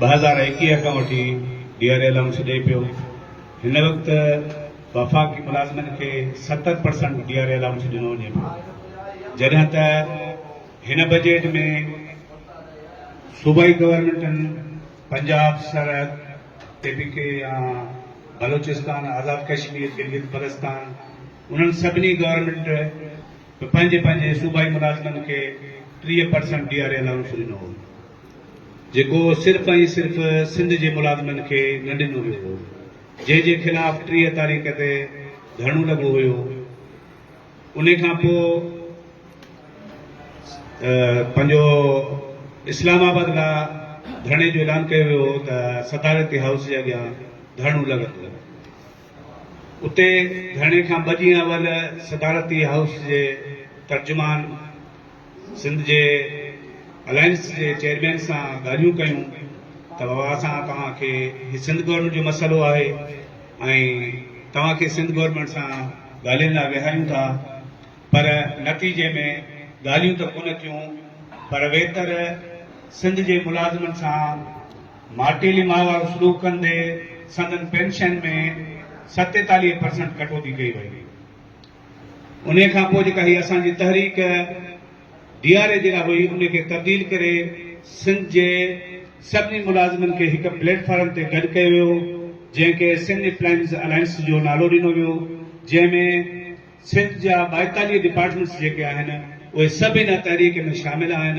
ٻه هزار ايڪيهه کان وٺي ڊي آر اي الائونس ڏئي پيو، هن وقت وفاقي ملازمن کي ستر percent D R A allowance ڏنو وڃي پيو، جڏهن ته هن بجيٽ ۾ صوبائي گورنمينٽن پنجاب، سرحد، ٽي پي ڪي يا بلوچستان، آزاد ڪشمير، گلگت بلستان انهن سڀني گورنمينٽ به پنهنجي پنهنجي صوبائي ملازمن کي ٽيهه percent D R A allowance ڏنو هو. جيڪو صرف ۽ صرف سنڌ جي ملازمن کي نه ڏنو ويو هو، جنهن جي خلاف ٽيهه تاريخ تي ڌرڻو لڳو هيو، انهي کان پوء پنهنجو اسلام آباد لا ڌرڻي جو اعلان ڪيو ويو هو ته صدارتي هائوس جي اڳيان ڌرڻو لڳندو. اتي ڌرڻي کان ٻه ڏينهن اول صدارتي هائوس جي ترجمان سنڌ جي الائنس جي چيئرمين سان ڳالهيون ڪيون ته بابا اسان توهان کي هي سنڌ گورنمينٽ جو مسئلو آهي ۽ توهان کي سنڌ گورنمينٽ سان ڳالهين لاء ويهاريون ٿا پر نتيجي ۾ ڳالهيون ته ڪونه ٿيون پر ويتر سنڌ جي ملازمن سان ماٽيلي ماء وارو سلوڪ ڪندي سندن پينشن ۾ ستيتاليهه پرسنٽ ڪٽوتي ڪئي وئي. انهيء کان پوء جيڪا هيء اسان جي تحريڪ ڊي آر اي جيڪا هئي ان کي تبديل ڪري سنڌ جي سڀني ملازمن کي هڪ پليٽ فارم تي گڏ ڪيو ويو جنهن کي سنڌ اپلائنس الائنس جو نالو ڏنو ويو جنهن ۾ سنڌ جا ٻائيتاليهه ڊپارٽمينٽس جيڪي آهن اهي سڀ ان تحريڪ ۾ شامل آهن.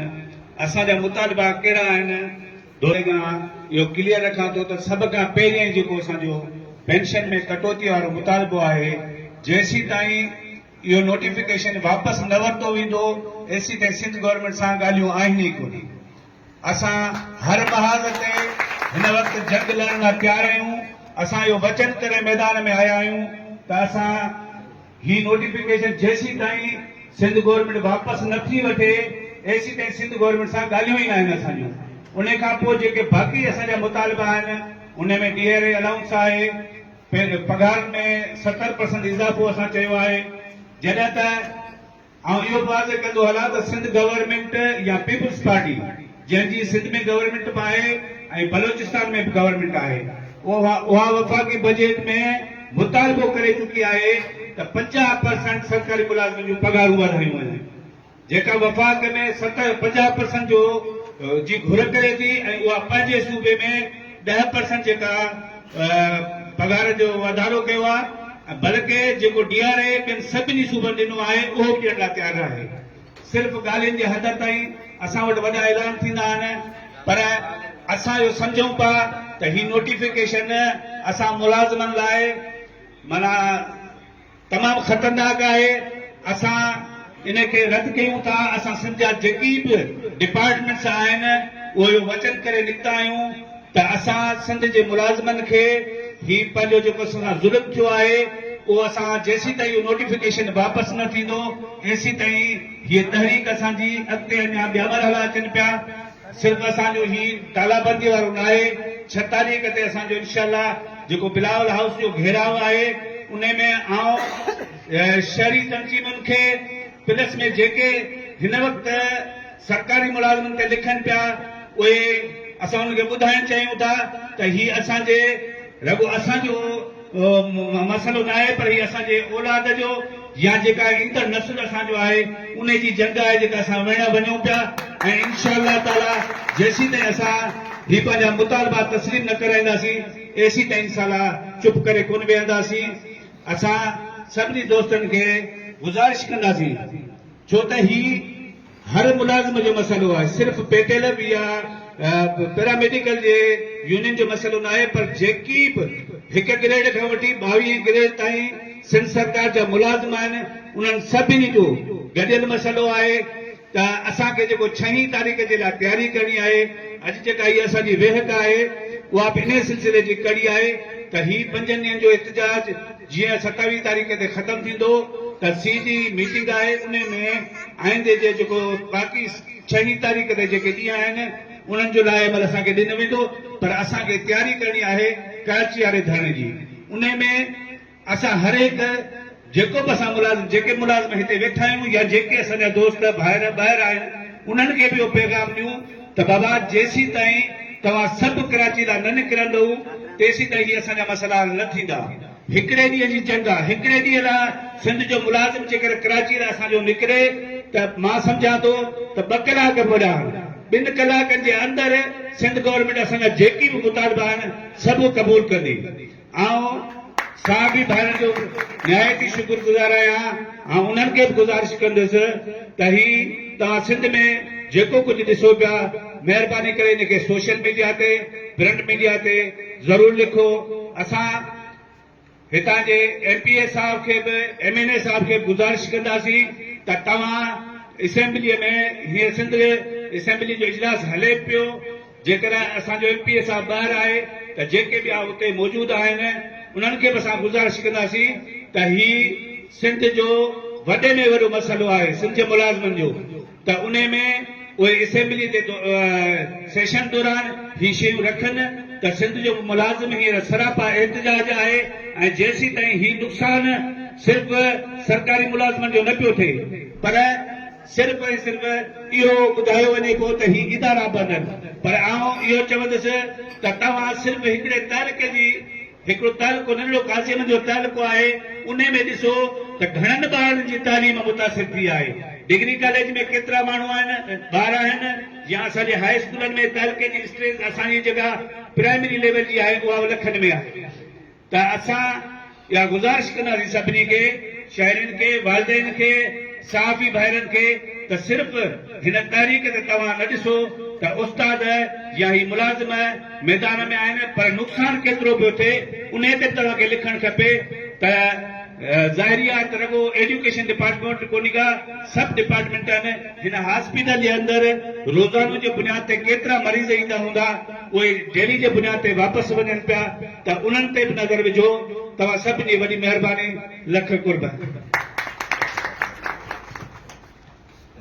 اسان جا مطالبا ڪهڙا آهن؟ دوري مان اهو ڪليئر رکان ٿو ته سڀ کان پهرين جيڪو اسان جو پينشن ۾ ڪٽوتي وارو مطالبو آهي جيسيتائين اهو نوٽيفڪيشن واپس نه ورتو ويندو ايسيتائين سنڌ گورنمينٽ سان ڳالهيون آهن ئي ڪونه اسان هر محاذ تي هن وقت جنگ لڙڻ لاء تيار آهيون اسان اهو وچن ڪري ميدان ۾ آيا آهيون ته اسان هي نوٽيفڪيشن جيسيتائين سنڌ گورنمينٽ واپس نه ٿي وٺي ايسيتائين سنڌ گورنمينٽ سان ڳالهيون ئي ناهن اسان جون ان کان پوء جيڪي باقي اسان جا مطالبا آهن ان ۾ ڊي آر اي الائونس آهي پگهارن ۾ ستر پرسنٽ اضافو اسان چيو آهي جڏهن ته آئون اهو به واضح ڪندو هلان ته سنڌ گورنمينٽ يا پيپلز پارٽي جنهن جي سنڌ ۾ گورنمينٽ به آهي ۽ بلوچستان ۾ به گورنمينٽ آهي اها اها وفاقي بجيٽ ۾ مطالبو ڪري چڪي آهي ته پنجاهه پرسنٽ سرڪاري ملازمن جون پگهارون وڌايون وڃن جيڪا وفاق ۾ ست پنجاهه پرسنٽ جو جي گهر ڪري ٿي ۽ اها پنهنجي صوبي ۾ ڏهه پرسنٽ جيڪا پگهار جو واڌارو ڪيو آهي ۽ بلڪه جيڪو ڊي آر اي ٻين سڀني صوبن ڏنو آهي اهو به ڏيڻ لاء تيار ناهي صرف ڳالهين جي حد تائين اسان وٽ وڏا اعلان ٿيندا آهن پر اسان اهو سمجهون پيا ته هي نوٽيفڪيشن اسان ملازمن لاء معنيٰ تمام خطرناڪ آهي اسان ان کي رد ڪيون ٿا اسان سنڌ جا جيڪي به ڊپارٽمينٽس آهن اهو اهو وچن ڪري نڪتا آهيون ته اسان سنڌ جي ملازمن کي هي پنهنجو جيڪو اسان سان ظلم ٿيو آهي اهو اسان جيسين تائين اهو نوٽيفڪيشن واپس نه ٿيندو ايسين تائين هي تحريڪ اسان جي اڳتي اڃا ٻيا مرحلا اچن پيا صرف اسان جو هي ڪالابندي وارو ناهي ڇهه تاريخ تي اسان جو انشاء الله جيڪو بلاول هائوس جو گهيراء آهي انهي ۾ آئون شهري تنظيمن کي پلس ۾ جيڪي هن وقت سرڪاري ملازمن تي لکن پيا اهي اسان انهن کي ٻڌائڻ چاهيون ٿا ته هي اسان جي رڳو اسان جو مسئلو ناهي پر هي اسان جي اولاد جو يا جيڪا ايندڙ نسل اسان جو آهي انهي جي جنگ آهي جيڪا اسان وڙهڻ وڃون پيا ۽ انشاء الله تعاليٰ جيسيتائين اسان هي پنهنجا مطالبا تسليم نه ڪرائينداسين ايسيتائين انشاء الله چپ ڪري ڪونه ويهنداسين اسان سڀني دوستن کي گذارش ڪنداسين ڇو ته هي هر ملازم جو مسئلو آهي صرف پيٽيلر يا پيراميڊيڪل جي يونين جو مسئلو ناهي پر جيڪي به هڪ گريڊ کان وٺي ٻاويهين گريڊ تائين سنڌ سرڪار جا ملازم آهن انهن سڀني جو گڏيل مسئلو آهي ته اسان کي جيڪو ڇهين تاريخ جي لاء تياري ڪرڻي آهي اڄ جيڪا هي اسان جي ويهڪ آهي اها به انهي سلسلي جي ڪڙي آهي ته هي پنجن ڏينهن جو احتجاج جيئن ستاويهه تاريخ تي ختم ٿيندو ته سي جي ميٽنگ آهي انهي ۾ آئندي جي جيڪو باقي ڇهين تاريخ تي جيڪي ڏينهن آهن انهن جو لاء عمل اسان کي ڏنو ويندو پر اسان کي تياري ڪرڻي آهي ڪراچي واري ڌرڻي جي انهي ۾ اسان هر هڪ جيڪو به اسان ملازم جيڪي ملازم هتي ويٺا آهيون يا جيڪي اسان جا دوست ڀائر ٻاهر آهن انهن کي به اهو پيغام ڏيون ته بابا جيسيتائين توهان سڀ ڪراچي لا نه نڪرندؤ تيسيتائين هي اسان جا مسئلا حل نه ٿيندا. هڪڙي ڏينهن جي جنگ آ، هڪڙي ڏينهن لا سنڌ جو ملازم جيڪر ڪراچي لا اسان جو نڪري ته مان سمجهان ٿو ته ٻه ڪلاڪ به وڏا آهن. ٻن ڪلاڪن جي اندر سنڌ گورنمينٽ اسان جا جيڪي به مطالبا آهن سڀ قبول ڪندي. آئون صحابي ڀائرن جو نهايت ئي شڪر گذار آهيان آئون انهن کي به گذارش ڪندس ته هي توهان سنڌ ۾ جيڪو ڪجهه ڏسو پيا مهرباني ڪري ان کي سوشل ميڊيا تي پرنٽ ميڊيا تي ضرور لکو اسان هتان جي ايم پي اي صاحب کي به ايم اين اي صاحب کي به گذارش ڪنداسين ته توهان اسيمبلي ۾ هيئن سنڌ اسيمبلي جو اجلاس هلي پيو جيڪڏهن اسان جو ايم پي اي صاحب ٻاهر آهي ته جيڪي ٻيا اتي موجود آهن انهن کي به اسان گذارش ڪنداسين ته هي سنڌ جو وڏي ۾ وڏو مسئلو آهي سنڌ جي ملازمن جو ته انهي ۾ اهي اسيمبلي جي سيشن دوران هي شيون رکن ته سنڌ جو ملازم هينئر سراپا احتجاج آهي ۽ جيسيتائين هي نقصان صرف سرڪاري ملازمن جو نه پيو ٿئي پر صرف ۽ صرف اهو ٻڌايو وڃي ٿو ته هي ادارا بنن پر آئون اهو چوندس ته توهان صرف هڪڙي تعلقي جي هڪڙو تعلقو ننڍڙو قاضيانن جو تعلقو آهي انهي ۾ ڏسو ته گهڻن ٻارڙن جي تعليم متاثر ٿي آهي ڊگري ڪاليج ۾ ڪيترا ماڻهو آهن ٻار آهن يا اسان جي هاء اسڪولن ۾ تعلقي جي اسٽرينٿ اسان جي جيڪا پرائمري ليول جي آهي اها لکن ۾ آهي. ته اسان اها گذارش ڪنداسين سڀني کي شهرين کي والدين کي صحافي ڀائرن کي ته صرف هن تحريڪ تي توهان نه ڏسو ته استاد يا هي ملازم ميدان ۾ آهن پر نقصان ڪيترو به ٿئي انهي تي به توهان کي لکڻ کپي ته ظاهري آهي ته رڳو ايڊيوڪيشن ڊپارٽمينٽ ڪونهي ڪا سڀ ڊپارٽمينٽ آهن هن هاسپيٽل جي اندر روزانو جي بنياد تي ڪيترا مريض ايندا هوندا. اهي ڊيري جي بنياد تي واپس وڃن پيا ته انهن تي به نظر وجهو توهان سڀن جي وڏي مهرباني لک قرب.